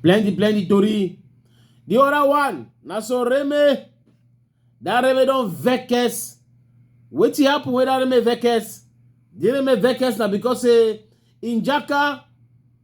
plenty plenty tori the other one na so reme that reme don vex wetin happen wey that reme vex the reme vex na because say im jaka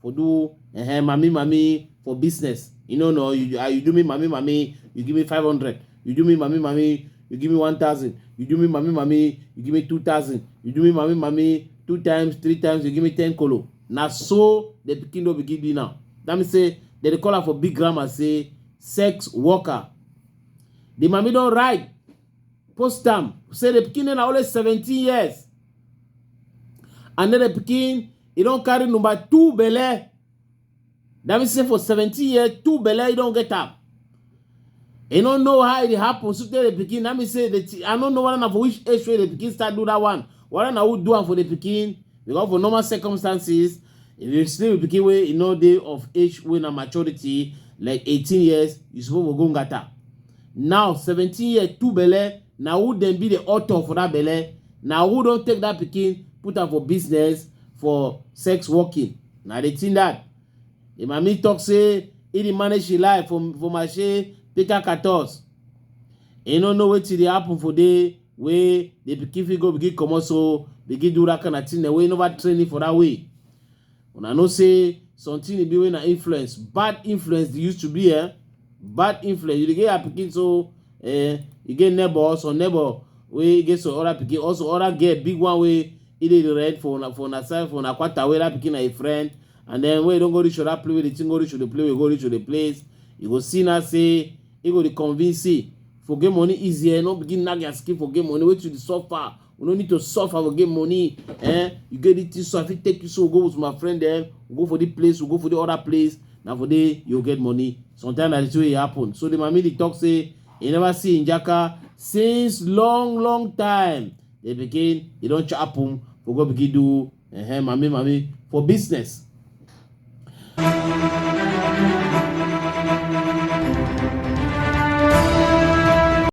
for do uh, mommy mommy for business. You know, no, you, uh, you do me mommy mommy, you give me 500. You do me mommy mommy, you give me 1,000. You do me mommy mommy, you give me 2,000. You do me mommy mommy, two times, three times, you give me 10 kolo. Now, so the pikin will begin doing now. That means say, they dey call her for big grammar say, sex worker. The mommy don't write post am say the pikin na only 17 years and then the pikin e don carry number two belle that means say for 17 years two belle e don get am e no know how e dey happen so tey the pikin that means say the ti- i no know whether na for which age wey the pikin start do that one whether na who do am for the pikin because for normal circumstances if you still be pikin wey e no dey of age wey na maturity like 18 years you suppose for go ngata Now seventeen year two belle na who dem be the author for that belle na who don take that pikin put am for business for sex working na the thing that the mami talk say he dey manage him life for for mashe pika katos he no know wetin dey happen for there wey the pikin fit go begin comot so begin do that kind of thing dem wey never train him for that way Una know say something e be wey na influence, bad influence dey used to be eh. Bad influence, you dey get your pikin so eh, you get neighbor, some neighbor wey get some other pikin, also other girl, big one wey e dey rent for una for una side for una kwata wey that pikin na a friend and then when you don go reach other place wey the thing go reach to the place wey go reach to the place, you go see now say e go dey convince say forget money easy eh, no begin knack their skin forget money, wetin you dey suffer, we no need to suffer for get money eh you get the thing so i fit take you so we go with my friend eh we go for the place we go for the other place na for there you get money sometimes na the way e happen so the mami dey talk say e never see njaka since long long time they begin e don chop am for go begin do eh, eh mami mami for business.